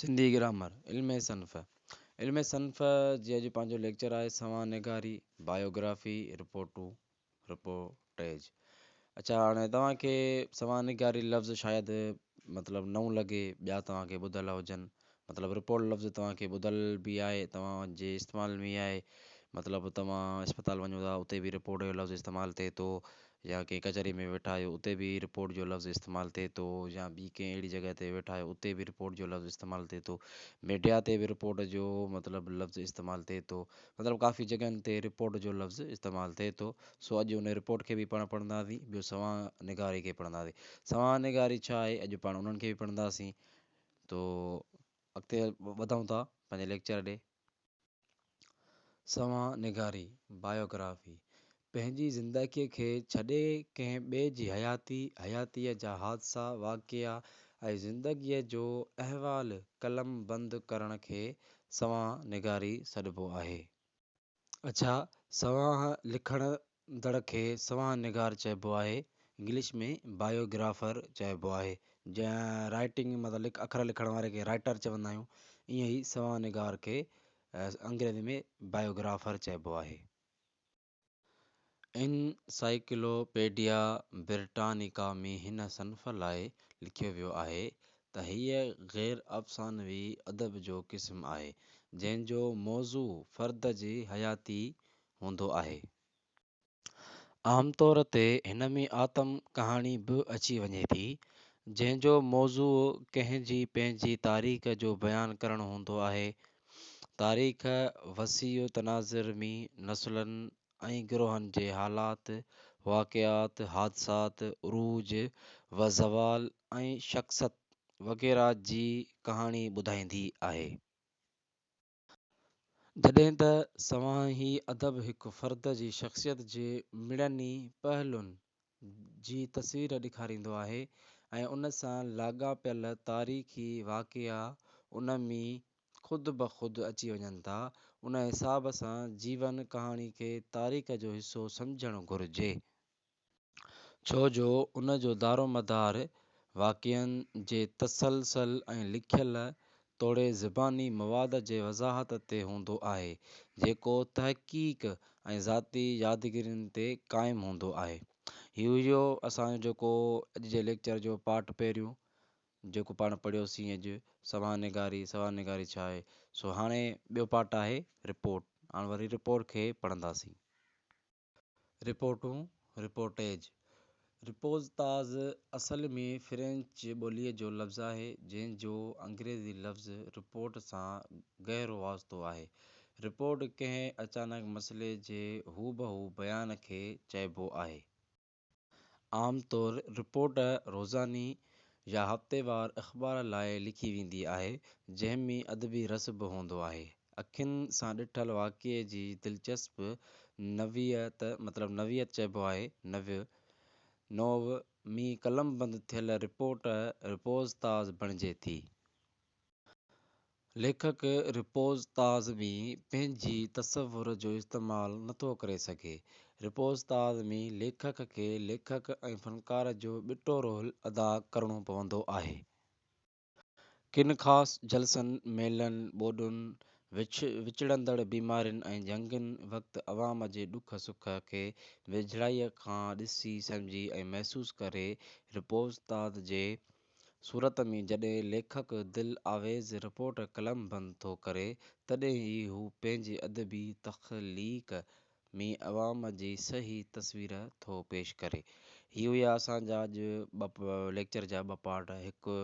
Sindhi grammar, علم صنف، علم صنف جي اڄ پنهنجو ليڪچر آهي سوان نگاري، بايوگرافي، رپورٽون، Reportage. اڇا هاڻي توهان کي سوان نگاري لفظ شايد مطلب نئون لڳي ٻيا توهان کي ٻڌل هجن مطلب رپورٽ لفظ توهان کي ٻڌل به آهي توهان جي استعمال ۾ آهي مطلب توهان اسپتال وڃو ٿا اتي به رپورٽ جو لفظ استعمال ٿئي ٿو يا ڪنهن ڪچهري ۾ ويٺا آهيو اتي به رپورٽ جو لفظ استعمال ٿئي ٿو يا ٻي ڪنهن اهڙي جڳهه تي ويٺا آهيو اتي به رپورٽ جو لفظ استعمال ٿئي ٿو ميڊيا تي به رپورٽ جو مطلب لفظ استعمال ٿئي ٿو مطلب ڪافي جڳهن تي رپورٽ جو لفظ استعمال ٿئي ٿو سو اڄ ان رپورٽ کي به پاڻ پڙهنداسين ٻيو سوانح نگاري کي پڙهنداسين سوانح نگاري ڇا آهي اڄ پاڻ انهن کي به پڙهنداسين تو اڳتي وڌون ٿا پنهنجي ليڪچر ڏي. سوانح نگاري، Biography، پنهنجي زندگيء کي ڇڏي ڪنهن ٻئي جي حياتي، حياتيء جا حادثا، واقعا ۽ زندگيء جو احوال قلم بند ڪرڻ کي سوانح نگاري سڏبو آهي. اڇا، سوانح لکڻ اندڙ کي سوانح نگار چئبو آهي، انگلش ۾ Biographer چئبو آهي، جئين رائٽنگ متعلق اکر لکڻ واري کي رائٽر چوندا آهيون، ائين ئي سوانح نگار کي انگريزي ۾ Biographer چئبو آهي. انسائيڪلوپيڊيا برٽانيڪا ۾ هن صنف لاء لکيو ويو آهي ته هيء غير افسانوي ادب جو قسم آهي، جنهن جو موضوع فرد جي حياتي، هوندو آهي. عام طور تي هن ۾ آتم ڪهاڻي به اچي وڃي ٿي، جنهن جو موضوع ڪنهن جي پنهنجي تاريخ جو بيان ڪرڻ هوندو آهي. تاريخ وسيع تناظر م نسلن ۽ گروهن جي حالات، واقعات، حادثات، عروج و زوال ۽ شخصت وغيره جي ڪهاڻي ٻڌائيندي آهي. جڏهن ته سوانح هي ادب هڪ فرد جي شخصيت جي مڙني پهلون جي تصوير ڏيکاريندو آهي ۽ ان سان لاڳاپيل تاريخي واقعا ان ۾ خود بخود اچي وڃن ٿا ان حساب سان جيون ڪهاڻي کي تاريخ جو حصو سمجهڻ گهرجي. ڇو جو ان جو دارومدار واقعن جي تسلسل ۽ لکيل توڙي زباني مواد جي وضاحت تي هوندو آهي، جيڪو تحقيق ۽ ذاتي يادگيرين تي قائم هوندو آهي. هي هيو اسان جو جيڪو اڄ جي ليڪچر جو پارٽ پهريون جيڪو پاڻ پڙهيوسين اڄ سوانح نگاري، سوانح نگاري ڇا آهي؟ سو هاڻي ٻيو پارٽ آهي رپورٽ، هاڻ وري رپورٽ کي پڙهنداسين. رپورٽون، Reportage، Repose تاز اصل ۾ فرينچ ٻوليء جو لفظ آهي، جنهن جو انگريزي لفظ رپورٽ سان گهرو واسطو آهي. رپورٽ ڪنهن اچانڪ مسئلي جي هوبهو بيان کي چئبو آهي. عام طور رپورٽ روزاني يا هفتيوار اخبار لاء لکي ويندي آهي، جنهن ۾ ادبي رس به هوندو آهي. اکين سان ڏٺل واقعي جي دلچسپ نوعيت، مطلب نوعيت چئبو آهي، نوع، نوع، ۾ قلمبند ٿيل رپورٽ رپوز تاز بڻجي ٿي. ليکڪ رپوز تاز ۾ پنهنجي تصور جو استعمال نه ٿو ڪري سگهي. رپوز تاز ۾ ليکڪ کي ليکڪ ۽ فنڪار جو ٻٽو رول ادا ڪرڻو پوندو آهي. ڪن خاص جلسن، ميلن، ٻوڏن، وڇ وچڙندڙ بيمارين ۽ جنگين وقت عوام جي ڏک سک کي ويجهڙائيء کان ڏسي سمجهي ۽ محسوس ڪري رپوز تاز جي صورت ۾ جڏهن ليکڪ دل آويز رپورٽ قلم بند ٿو ڪري، تڏهن ئي هو پنهنجي ادبي تخليق ۾ عوام جي صحيح تصوير ٿو پيش ڪري. هي هيا اسان جا اڄ ٻه ليڪچر جا ٻه پارٽ، هڪ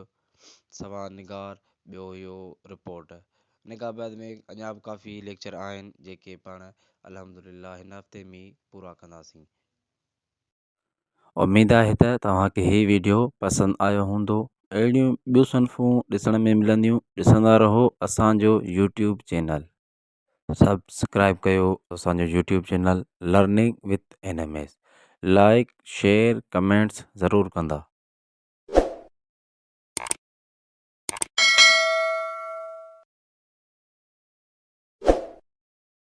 سوا نگار ٻيو هيو رپورٽ. نگار بعد ۾ اڃا به ڪافي ليڪچر آهن، جيڪي پاڻ الحمدلله هن هفتي ۾ ئي پورا ڪنداسين. اميد آهي ته توهان کي هي ويڊيو پسند آيو هوندو اهڙيون ٻيون صنفون ڏسڻ ۾ ملنديون ڏسندا رهو اسانجو يوٽيوب چينل سبسڪرائب ڪيو اسانجو YouTube channel learning with N M S like share comments ضرور ڪندا